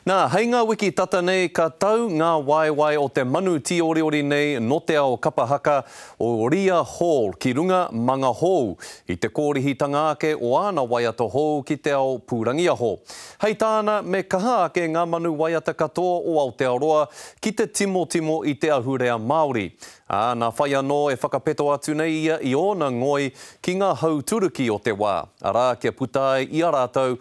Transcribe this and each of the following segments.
Nā, hei ngā wiki tata nei ka tau ngā waewae o te manu tīoriori nei nō te ao kapa haka o Ria Hall ki runga mā ngā hou, i te kōrihitanga ake o āna waiata hou ki te ao pūrangiaho. Hei tāna, me kaha ake ngā manu waiata katoa o Aotearoa ki te timotimo i te ahurea Māori, ā, nā whai anō e whakapeto atu nei ia i ōna ngoi ki ngā hau turuki o te wā, arā, kia puta ai i a rātou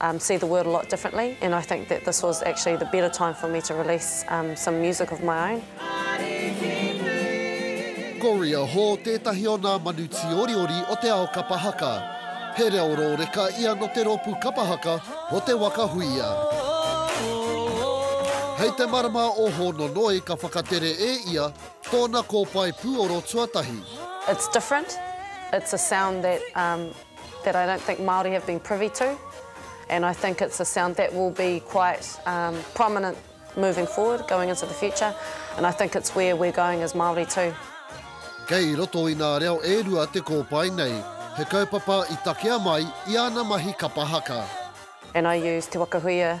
um see the world a lot differently and I think that this was actually the better time for me to release um some music of my own. Goria Ho tētahi o nā manu tīoriori o te ao kapa haka. He reo rōreka ia nō te rōpū kapa haka o Te Waka Huia. Hei te marama o Hōnonoi ka whakatere e ia tōna kōpae pūoro tuatahi. It's different, it's a sound that um that I don't think Māori have been privy to and I think it's a sound that will be quite um prominent moving forward, going into the future and I think it's where we're going as Māori too. Kei roto i nā reo e rua te kōpae nei, he kaupapa i takea mai i ana mahi kapa haka. And I use Te Wakahuia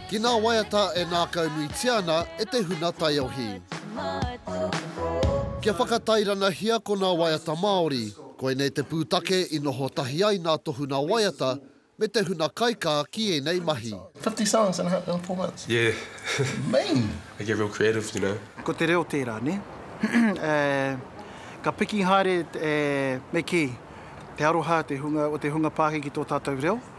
ki nā waiata e nākaunuitia ana e te huna taiohi. Kia whakatairanahia ko nā waiata Māori, koinei te pūtake i noho tahi ai nā tohu nā waiata me te huna kaikā ki ēnei mahi. Fifty songs in a, in four months? Yeah. Amazing. I get real creative, you know. Ko te reo tērā, nē? E, ka piki haere e, me kī, te aroha, te hunga, o te hunga Pākehki ki tō tātou reo.